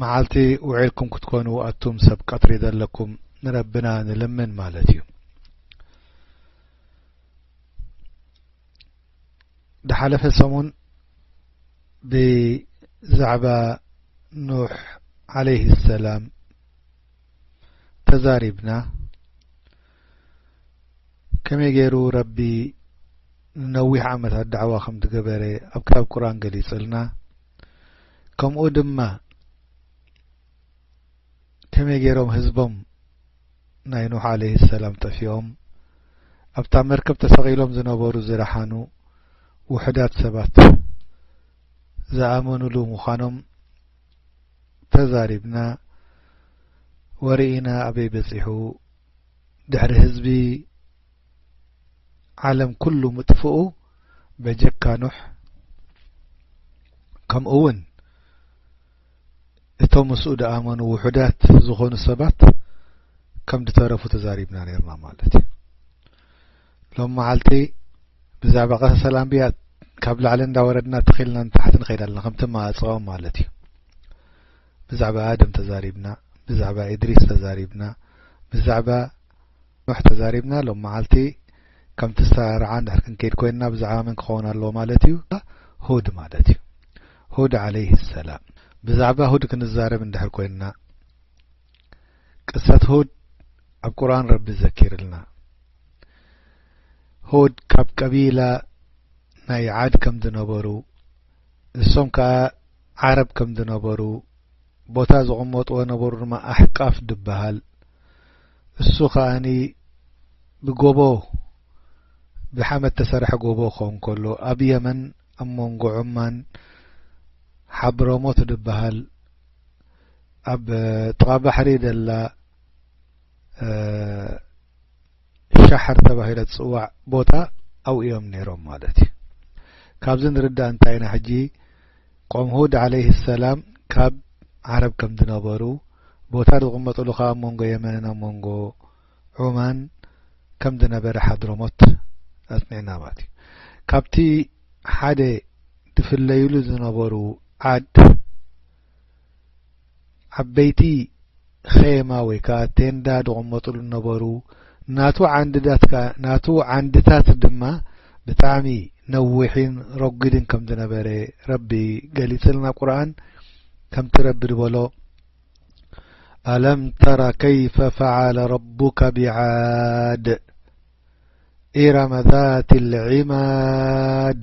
መዓልቲ ውዒልኩም ክትኮኑ ኣቱም ሰብ ቀትሪ ዘለኩም ንረብና ንልምን ማለት እዩ ዝሓለፈ ሰሙን ብዛዕባ ኑሕ ዓለይህ ሰላም ተዛሪብና ከመይ ገይሩ ረቢ ንነዊሕ ዓመታት ዳዕዋ ከም ዝገበረ ኣብ ክታብ ቁርን ገሊጹልና ከምኡ ድማ ከመይ ገይሮም ህዝቦም ናይ ኖህ ዓለይህ ሰላም ጠፊኦም ኣብታ መርከብ ተሰቒሎም ዝነበሩ ዝረሓኑ ውሕዳት ሰባት ዝኣመኑሉ ምዃኖም ተዛሪብና ወርኢና ኣበይ በጺሑ ድሕሪ ህዝቢ ዓለም ኩሉ ምጥፍኡ በጀካ ኑሕ ከምኡ ውን እቶም ምስኡ ድኣመኑ ውሑዳት ዝኾኑ ሰባት ከም ድተረፉ ተዛሪብና ነርና ማለት እዩ ሎም መዓልቲ ብዛዕባ ቀሰ ሰላምብያ ካብ ላዕሊ እንዳወረድና ተኺልና ንታሕቲ ንኸይድ ኣለና ከምቲ መኣፀኦም ማለት እዩ ብዛዕባ ኣደም ተዛሪብና ብዛዕባ ኢድሪስ ተዛሪብና ብዛዕባ ኖሕ ተዛሪብና ሎም መዓልቲ ከምቲ ዝተራርዓ እንድሕር ክንከይድ ኮይንና ብዛዕባ መን ክኸውን ኣለዎ ማለት እዩ ሁድ ማለት እዩ ሁድ ዓለይህ ሰላም ብዛዕባ ሁድ ክንዛረብ እንድሕር ኮይንና ቅሰት ሁድ ኣብ ቁርኣን ረቢ ዘኪርልና ሁድ ካብ ቀቢላ ናይ ዓድ ከም ዝነበሩ እሶም ከዓ ዓረብ ከም ዝነበሩ ቦታ ዝቕመጥዎ ነበሩ ድማ ኣሕቃፍ ድበሃል እሱ ከኣኒ ብጎቦ ብሓመድ ተሰርሐ ጎቦ ክኸውን ከሎ ኣብ የመን ኣብ መንጎ ዑማን ሓብረሞት ድበሃል ኣብ ጥቓ ባሕሪ ደላ ሻሕር ተባሂላ ትጽዋዕ ቦታ ኣብኡ እዮም ነይሮም ማለት እዩ። ካብዚ ንርዳእ እንታይ ኢና ሕጂ ቆም ሁድ ዓለይህ ሰላም ካብ ዓረብ ከም ዝነበሩ ቦታ ዝቕመጥሉ ከኣ ኣብ መንጎ የመንን ኣብ መንጎ ዑማን ከም ዝነበረ ሓድሮሞት ኣጽኒዕና ማለት እዩ። ካብቲ ሓደ ዝፍለይሉ ዝነበሩ ዓድ ዓበይቲ ኼማ ወይ ከኣ ቴንዳ ዝቕመጡሉ ነበሩ። ናቱ ዓንድታት ድማ ብጣዕሚ ነዊሕን ረጒድን ከም ዝነበረ ረቢ ገሊጽልና ኣብ ቁርኣን ከምቲ ረቢ ዝበሎ ኣለም ተረ ከይፈ ፈዓለ ረቡከ ብዓድ ኢረመ ዛት ልዒማድ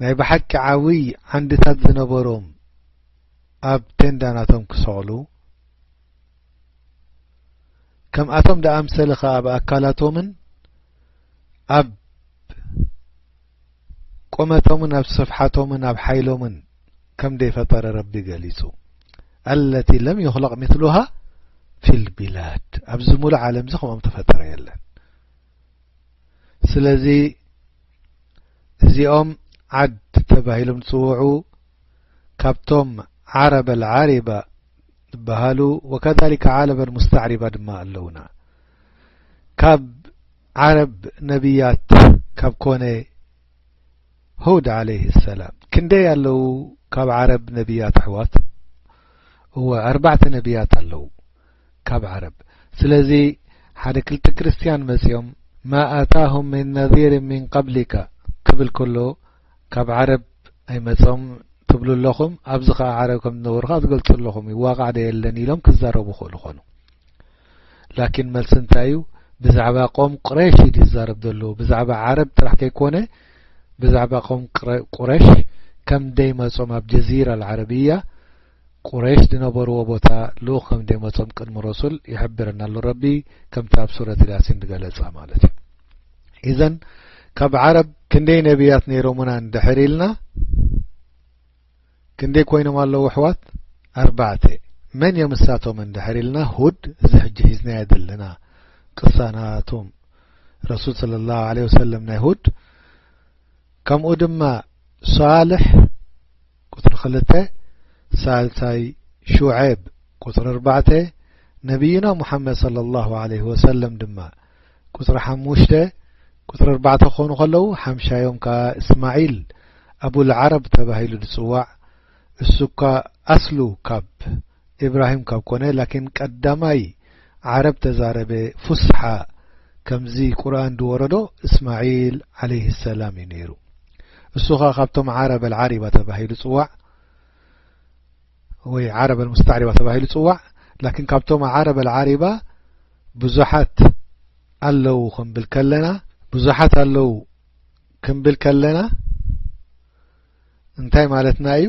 ናይ ብሓቂ ዓብይ ዓንድታት ዝነበሮም ኣብ ቴንዳ ናቶም ክሰቕሉ፣ ከምኣቶም ዝኣምሰለ ከኣ ኣብ ኣካላቶምን ኣብ ቁመቶምን ኣብ ስፍሓቶምን ኣብ ሓይሎምን ከም ዘይፈጠረ ረቢ ገሊጹ። ኣለቲ ለም ዩኽለቕ ምስሉሃ ፊልቢላድ ኣብዚ ምሉእ ዓለምዚ ከምኦም ተፈጠረ የለን። ስለዚ እዚኦም ዓድ ተባሂሎም ዝፅውዑ ካብቶም ዓረበ ዓሪባ ዝበሃሉ ወከሊከ ዓረበ ሙስተዕሪባ ድማ ኣለዉና ካብ ዓረብ ነብያት ካብ ኮነ ሁድ ዓለይህ ሰላም ክንደይ ኣለዉ ካብ ዓረብ ነብያት ኣሕዋት እወ ኣርባዕተ ነብያት ኣለዉ ካብ ዓረብ ስለዚ ሓደ ክልተ ክርስትያን መጽዮም ማ ኣታሁም ምን ነዚር ምን ቀብሊከ ክብል ከሎ ካብ ዓረብ ኣይመጾም ትብሉ ኣለኹም ኣብዚ ከኣ ዓረብ ከም ዝነበሩ ከኣ ትገልጹ ኣለኹም እዩ ዋቃዕ ዶ የለን ኢሎም ክዛረቡ ይኽእሉ ኮኑ ላኪን መልሲ እንታይ እዩ ብዛዕባ ቆም ቁረሽ እዩ ዝዛረብ ዘሎ ብዛዕባ ዓረብ ጥራሕ ከይኮነ ብዛዕባ ቆም ቁረሽ ከም ደይመጾም ኣብ ጀዚራ ዓረብያ ቁረይሽ ዝነበርዎ ቦታ ልኡኽ ከም ዘይመጾም ቅድሚ ረሱል ይሕብረና ኣሎ ረቢ ከምቲ ኣብ ሱረት ያሲን ዝገለጻ ማለት እዩ ኢዘን ካብ ዓረብ ክንደይ ነብያት ነይሮምና እንድሕር ኢልና ክንደይ ኮይኖም ኣለዉ ኣሕዋት ኣርባዕተ መን እዮም እሳቶም እንድሕር ኢልና ሁድ እዚ ሕጂ ሒዝናዮ ዘለና ቅሳናቶም ረሱል صለ ላሁ ለ ወሰለም ናይ ሁድ ከምኡ ድማ ሳልሕ ቁጽሪ ክልተ ሳልሳይ ሹዔብ ቁጽሪ ኣርባዕተ ነብይና ሙሓመድ ሰለላሁ ዓለይሂ ወሰለም ድማ ቁጽሪ ሓሙሽተ ቁጽሪ ኣርባዕተ ክኾኑ ከለዉ ሓምሻዮም ከኣ እስማዒል ኣቡልዓረብ ተባሂሉ ዝጽዋዕ እሱኳ ኣስሉ ካብ ኢብራሂም ካብ ኮነ ላኪን ቀዳማይ ዓረብ ተዛረበ ፉስሓ ከምዚ ቁርኣን ድወረዶ እስማዒል ዓለይሂ ሰላም እዩ ነይሩ እሱ ከኣ ካብቶም ዓረብ ኣልዓሪባ ተባሂሉ ጽዋዕ ወይ ዓረብ ኣልሙስተዕሪባ ተባሂሉ ጽዋዕ ላኪን ካብቶም ዓረብ ኣልዓሪባ ብዙሓት ኣለዉ ክንብል ከለና ብዙሓት ኣለዉ ክንብል ከለና እንታይ ማለትና እዩ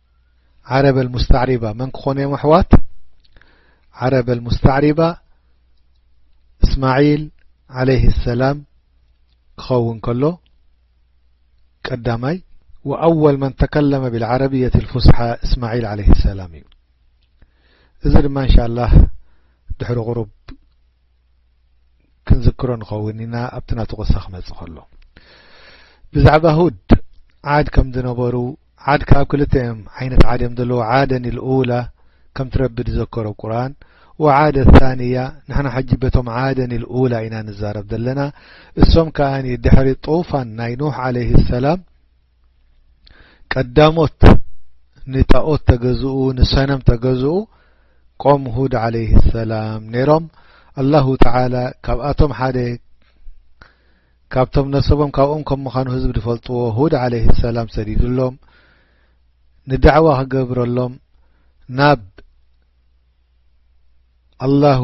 ዓረብ ኣልሙስተዕሪባ መን ክኾኑ እዮም ኣሕዋት ዓረብ ኣልሙስተዕሪባ እስማዒል ዓለይህ ሰላም ክኸውን ከሎ ቀዳማይ ወኣወል መን ተከለመ ብልዓረብየት ልፉስሓ እስማዒል ዓለይህ ሰላም እዩ እዚ ድማ እንሻ ላህ ድሕሪ ቅሩብ ክንዝክሮ ንኸውን ኢና ኣብቲ ናቱ ቅሳ ክመጽእ ከሎ ብዛዕባ ሁድ ዓድ ከም ዝነበሩ ዓድ ካብ ክልተ እዮም ዓይነት ዓድ እዮም ዘለዉ ዓደን ልኡላ ከምቲ ረቢ ዝዘከሮ ቁርን ወዓደ ታንያ ንሕና ሕጂ በቶም ዓደን ልኡላ ኢና ንዛረብ ዘለና እሶም ከኣ ድሕሪ ጡፋን ናይ ኖህ ዓለይህ ሰላም ቀዳሞት ንጣኦት ተገዝኡ ንሰነም ተገዝኡ ቆም ሁድ ዓለይህ ሰላም ነይሮም ኣላሁ ተዓላ ካብኣቶም ሓደ ካብቶም ነሰቦም ካብኦም ከም ምዃኑ ህዝቢ ዝፈልጥዎ ሁድ ዓለይህ ሰላም ሰዲዱሎም ንዳዕዋ ክገብረሎም ናብ ኣላሁ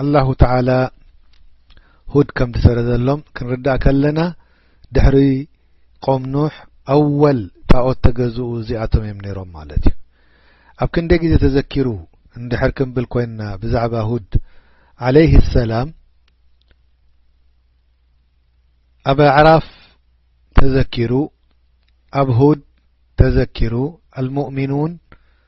ኣላሁ ተዓላ ሁድ ከም ዝሰረዘሎም ክንርዳእ ከለና ድሕሪ ቆም ኑሕ ኣወል ጣኦት ተገዝኡ እዚኣቶም እዮም ነይሮም ማለት እዩ ኣብ ክንደይ ግዜ ተዘኪሩ እንድሕር ክንብል ኮይንና ብዛዕባ ሁድ ዓለይህ ሰላም ኣብ ኣዕራፍ ተዘኪሩ ኣብ ሁድ ተዘኪሩ ኣልሙእሚኑን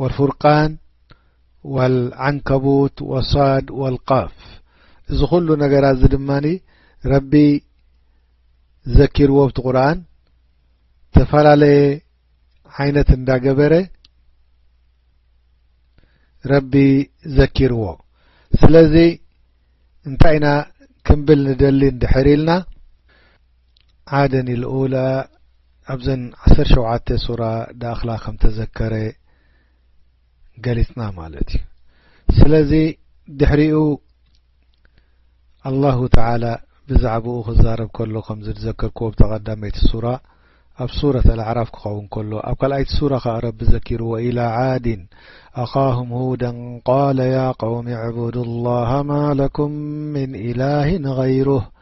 ወልፉርቃን ወልዓንከቡት ወሳድ ወልቃፍ እዚ ኩሉ ነገራት እዚ ድማ ረቢ ዘኪርዎ ብቲ ቁርን ተፈላለየ ዓይነት እንዳገበረ ረቢ ዘኪርዎ ስለዚ እንታይ ኢና ክንብል ንደሊ እንድሕር ኢልና ዓደን ኣልኡላ ኣብዘን ዓሰርተ ሸውዓተ ሱራ ድኣኽላ ከም ተዘከረ ገሊጽና ማለት እዩ ስለዚ ድሕሪኡ ኣላሁ ተዓላ ብዛዕባኡ ክዛረብ ከሎ ከም ዝዘከርክዎ ብተቐዳመይቲ ሱራ ኣብ ሱረት ኣልኣዕራፍ ክኸውን ከሎ ኣብ ካልኣይቲ ሱራ ከዓ ረቢ ዘኪሩ ወኢላ ዓድን ኣኻሁም ሁደን ቃለ ያ ቀውሚ ዕቡዱ ላሃ ማ ለኩም ምን ኢላህን غይሩህ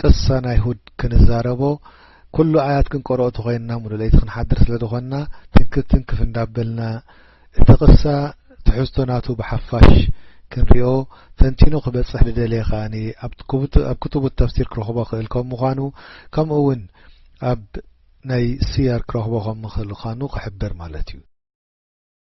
ቅሳን ኣይሁድ ክንዛረቦ ኩሉ ኣያት ክንቆርኦ ተኾይንና ሙሉእ ለይቲ ክንሓድር ስለ ዝኾንና ትንክፍ ትንክፍ እንዳበልና እቲ ቅሳ ትሕዝቶ ናቱ ብሓፋሽ ክንሪኦ ተንቲኑ ክበጽሕ ልደልየ ከኣ ኣብ ክቱቡት ተፍሲር ክረኽቦ ክእል ከም ምዃኑ ከምኡ ውን ኣብ ናይ ስያር ክረኽቦ ከም ምኽእል ኻኑ ክሕብር ማለት እዩ።